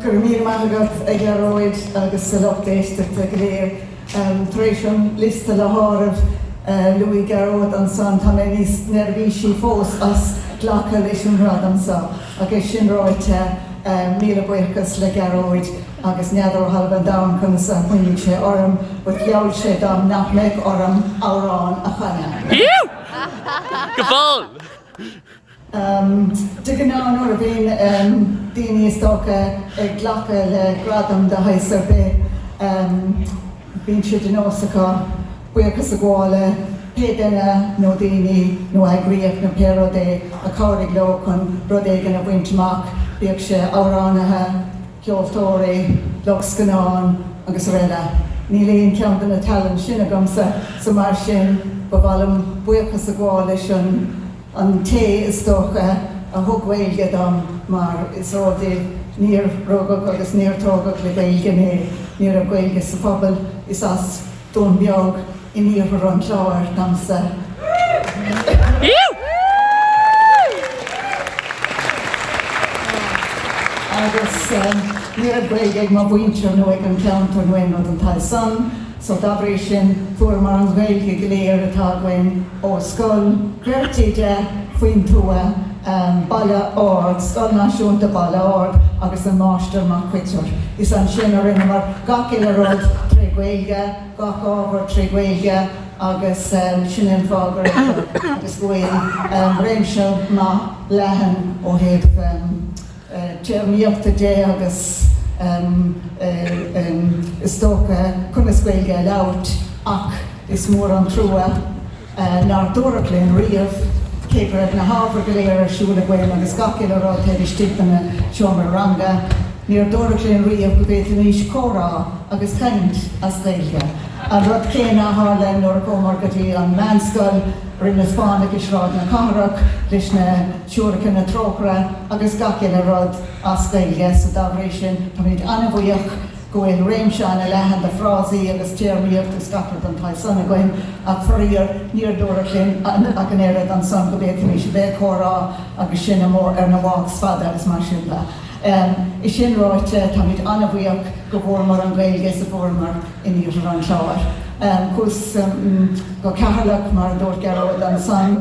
Go raibh míle maith agat a Ghearóid agus a lucht éisteachta go léir. Tar éis an liosta le háireamh, luaigh Gearóid ansan, tá mé níos neirbhísí fós as glacadh leis an ngradam so. Ach é sin ráite, míle buíochas le Gearóid. agus n'fheadar ó thalamh an domhain conas a chuimhnigh sé orm, but gheall sé dom nach mbeadh orm amhrán a chanadh. De ghnáth nuair a bhíonn daoine is dócha ag glacadh le gradam de shaghas ar bith, bíonn sé de nós acu buíochas a ghabháil le pé duine nó daoine nó eagraíocht nó pé rud é a chabhraigh leo chun rud éigin a bhaint amach, bíodh sé amhránaithe, ceoltóirí, lucht scannán srl. Níl aon cheann de na tallann sin agamsa so mar sin ba mhaith liom buíochas a ghabháil leis an té is dócha a thug Gaeilge dom mar is eol daoibh níor rugadh agus níor tógadh le Gaeilge mé, ní raibh Gaeilge sa phobal, is as. Dún Beag, in iarthar an Chláir domsa, agus ní raibh Gaeilge ag mo mhuintir nó ag an gceantar nó aon rud den tsaghas san, so dá bhrí sin fuaireamar an Ghaeilge go léir atá againn ó scoil bheirt oide faoin tuath. Baile Ard, Scoil Náisiúnta Bhaile Ard agus an Máistir Mac Coitir. Is ansin a rinneamar gach uile rud trí Ghaeilge, gach ábhar trí Ghaeilge agus sin an fáth go raibh agus go bhfuil réimse maith leathan ó thaobh téarmaíochta de agus is dócha conas Gaeilge a labhairt ach is mór an trua nár dúradh linn riamh, cé go raibh na hábhair go léir ar siúl againn agus gach uile rud taobh istigh de na seomraí ranga, níor dúradh linn riamh go bhféadfaimis comhrá agus caint as Gaeilge. An rud céanna a tharla nuair a chuamar go dtí an mheánscoil, Rinn na Spáinneach i Sráid na Cathrach leis na. Siúracha na Trócaire agus gach uile rud as Gaeilge. So dá bhrí sin, táimid an-bhuíoch go bhfuil réimse an-leathan de frásaí agus téarmaíocht is gach rud den tsaghas san againn, ach faraor, níor dúradh linn ach an oiread ansan go bhféadfaimís a bheith ag comhrá agus sinn amuigh ar na walks fada agus mar sin de. É sin ráite, táimid an-bhuíoch go bhfuaireamar an Ghaeilge so a fuaireamar in iarthar an Chláir. Chuas go Ceatharlach, mar a dúirt Gearóid ansan.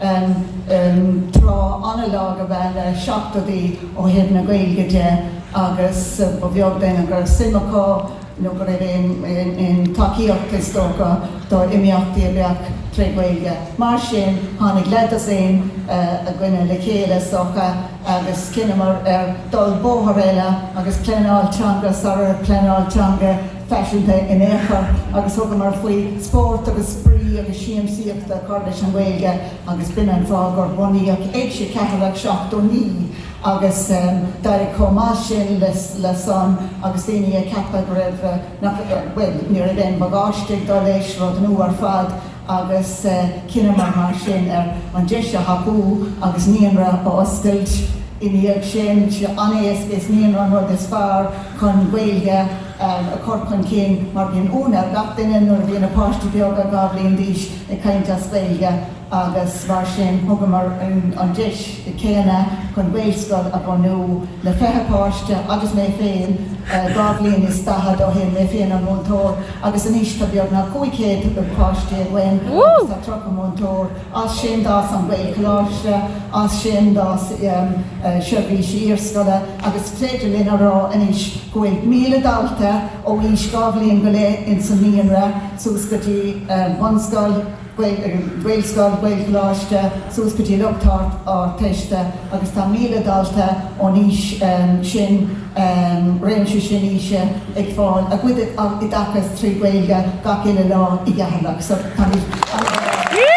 an tráth an-lag ab ea na seachtóidí ó thaobh na Gaeilge de agus ba bheag duine gur suim acu nó go raibh aon tacaíocht, is dócha, do imeachtaí a bheadh tré Ghaeilge. Mar sin, tháinig leathdosaen againne le chéile, is dócha, agus chinneamar ar dhul bóthar eile agus pleanáil teanga sara raibh pleanáil teanga, faiseanta in aon chor agus thugamar faoi spórt agus spraoi agus siamsaíocht a chur leis an Ghaeilge agus b'in an fáth gur bunaíodh Éigse Cheatharlach 79 agus d'éirigh chomh maith sin leis san agus daoine ag ceapadh go raibh, bhuel, ní raibh aon bhagáiste ag dul leis, rud nua ar fad. agus chinneamar mar sin ar an deis a thapú agus naíonra a oscailt i ndiaidh sin. An-éasca, is naíonra an rud is fearr chun Gaeilge a chur chun cinn mar bíonn ionadh ar gach duine nuair a bhíonn na páistí beaga dhá bhliain d'aois ag caint as Gaeilge agus mar sin thugamar an deis dhéanach chun Gaelscoil a bhunú le 20 páiste agus mé féin dhá bhliain is daichead ó shin, mé féin an múinteoir. agus anois tá beagnach 500 páiste againn agus tá 30 múinteoir, as sin d'fhás an Gaelcholáiste, as sin d'fhás seirbhísí iarscoile agus is féidir linn a rá anois go bhfuil 1,000 dalta ó aois dhá bhliain go leith ins an naíonra suas go dtí bunscoil. Gaelscoil, Gaelcholáiste, suas go dtí lucht Ardteiste agus tá 1,000 dalta ón aois sin, réimse sin aoise, ag fáil a gcuid oideachais trí Ghaeilge gach uile lá i gCeatharlach. So táimid an-bhuíoch.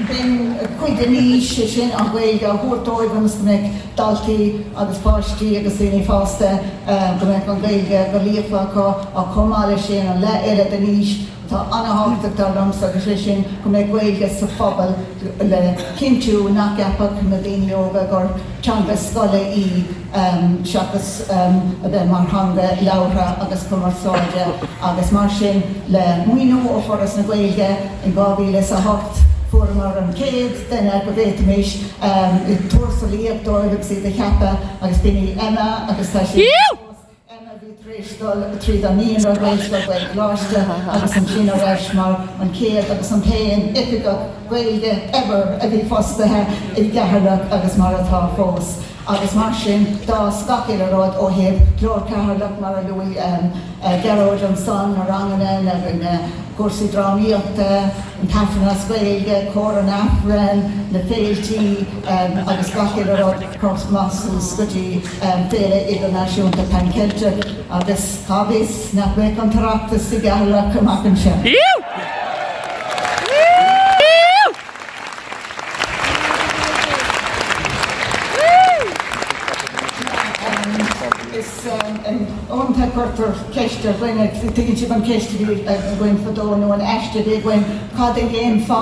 B'in cuid den fhís, sé sin, an Ghaeilge a thabhairt dóibh ionas go mbeadh daltaí agus páistí agus daoine fásta go mbeidh an Ghaeilge go líofa acu ach chomh maith leis sin an leath eile den fhís atá an-tábhachtach dar liomsa agus sé sin go mbeidh Gaeilge sa phobal le cinntiú nach gceapfadh na daoine óga gur teanga scoile í seachas a bheith mar theanga labhartha agus cumarsáide agus mar sin le maoiniú ó Foras na Gaeilge in 2008 fuaireamar an chéad duine go bhféadfaimis tuarascáil poist a thabhairt dóibh agus iad a cheapadh agus b'in í Emma agus tá sí anseo fós, Emma a bhí tar éis dul tríd an naíonra, Gaelscoil, Gaelcholáiste agus ansin ar ais mar an chéad agus an t-aon oifigeach Gaeilge ever a bhí fostaithe i gCeatharlach agus mar atá fós agus mar sin d'fhás gach uile rud ó thaobh Glór Cheatharlach mar a luaigh Gearóid ansan, na ranganna, na cúrsaí drámaíochta. an tAifreann as Gaeilge, Cór an Aifrinn, na féilte agus gach uile rud, crosta suas go dtí Féile Idirnáisiúnta Pan Cheilteach agus cá bhfios nach mbeadh an tOireachtas i gCeatharlach amach anseo. Uaireanta cuirtear ceist ar dhaoine, tuigeann sibh an cheist a bhí againn fadó, nó an aiste a bhí againn, cad a dhéanfá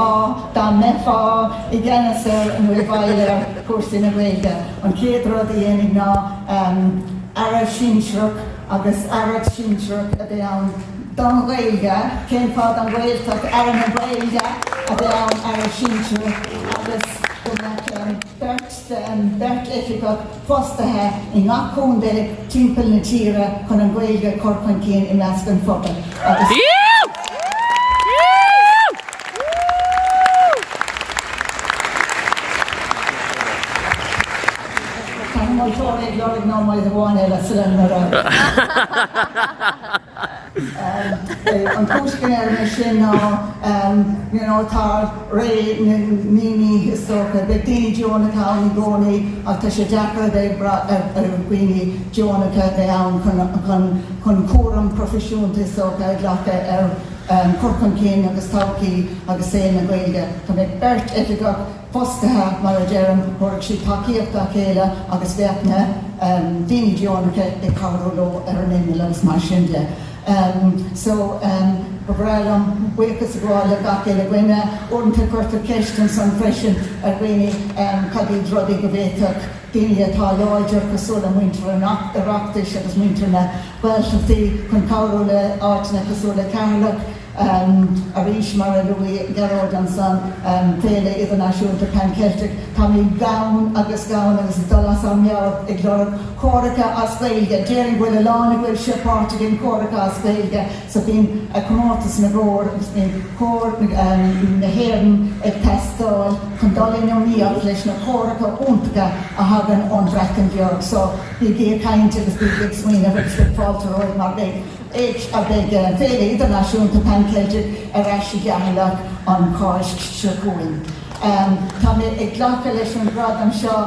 dá mbeifeá i gceannas ar, nó i bhfeighil ar, chúrsaí na Gaeilge? An chéad rud a dhéanfainn ná Aire sinsearach agus aireacht shinsearach a bheith ann don Ghaeilge. Cén fáth don Ghaeltacht? Aire na Gaeilge a bheith ann, aire sinsearach, agus go mbeadh beirt, beirt oifigeach fostaithe i ngach contae timpeall na tíre chun an Ghaeilge a chur chun cinn i measc an phobail agus. Tá na moltóirí ag lorg nóiméad amháin eile sula n-urramaítear. An cúis go ndeirim é sin ná tá ré na ndaoine is dócha, beidh daoine deonacha ann i gcónaí ach tá sé deacair a bheith ag brath ar dhaoine deonacha a bheidh ann chun chun chun cúram proifisiúnta is dócha a ghlacadh ar chur chun cinn agus todhchaí agus saol na Gaeilge. Dá mbeadh beirt oifigeach fostaithe, mar a deirim, thabharfadh siad tacaíocht dá chéile agus bheadh na daoine deonacha ag cabhrú leo ar an imeall agus mar sin de. So, ba bhreá liom buíochas a ghabháil le gach uile dhuine. Uaireanta cuirtear ceist ansan freisin ar dhaoine cad iad rudaí go bhféadfadh daoine atá láidir, cosúil le muintir an Oireachtais agus muintir na Gaeltachtaí, chun cabhrú le áiteanna cosúil le Ceatharlach. Arís, mar a luaigh Gearóid ansan, Féile Idirnáisiúnta Pan Cheilteach, táimid gann, gann agus ag dul as ár meabhair ag lorg córacha as Gaeilge. Déarfainn go bhfuil a lán a bhfuil sibh páirteach in córacha as Gaeilge so bíonn comórtas na gcór agus bíonn cór na hÉireann ag teastáil chun dul in iomaíocht leis na córacha iontacha a thagann ón Bhreatain Bheag so bígí ag caint agus bígí ag smaoineamh agus beidh fáilte romhaibh mar beidh beidh Féile Idirnáisiúnta Pan Cheilteach ar ais i gCeatharlach an Cháisc seo chugainn. Tá mé ag glacadh leis an ngradam seo,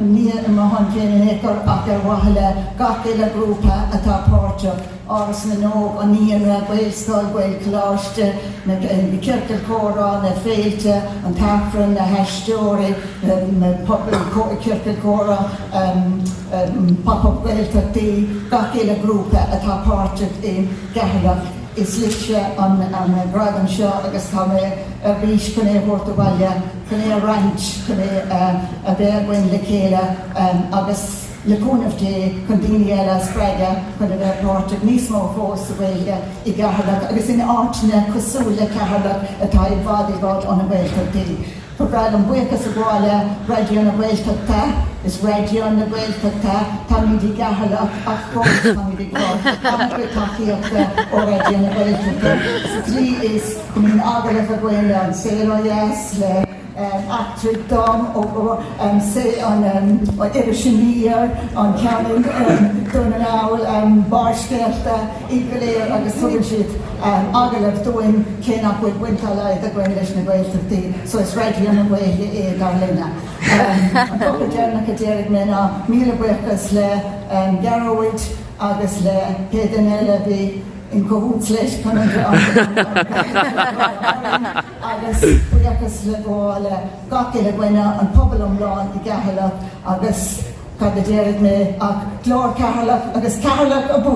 ní ar mo shon féin in aon chor ach ar mhaithe le gach uile ghrúpa atá páirteach, Áras na nÓg, an Naíonra, Gaelscoil, Gaelcholáiste, na Ciorcail Chomhrá, na Féilte, an tAifreann, na haisteoirí, na Ciorcail Chomhrá. Pop Up Gaeltachtaí, gach uile ghrúpa atá páirteach i gCeatharlach, is libhse an gradam seo agus tá mé ar bís chun é a thabhairt abhaile, chun é a roinnt, chun é a bheith againn le chéile agus, le cúnamh Dé, chun daoine eile a spreagadh chun a bheith páirteach níos mó fós sa Ghaeilge i gCeatharlach agus in áiteanna cosúil le Ceatharlach atá i bhfad i bhfad ó na Gaeltachtaí. Ba mhaith liom buíochas a ghabháil le Raidió na Gaeltachta. Is Raidió na Gaeltachta, táimid i gCeatharlach ach fós táimid ag fáil an-chuid tacaíochta ó Raidió na Gaeltachta sa tslí is go mbíonn agallaimh againn le An Saol Ó Dheas, le Eachtraigh Dom, Iris Aniar, an ceann i nDún na nGall, Barrscéalta. iad go léir agus tugann siad agallamh dúinn cé nach bhfuil baint dá laghad againn leis na Gaeltachtaí so is Raidió na Gaeilge é dar linne. An focal deireanach a déarfaidh mé ná míle buíochas le Gearóid agus le pé duine eile a bhí in cahoots leis chun an rang agus buíochas le gabháil le gach uile dhuine an pobal iomlán i gCeatharlach agus Cad a déarfaidh mé ach Glór Cheatharlach agus Ceatharlach Abú!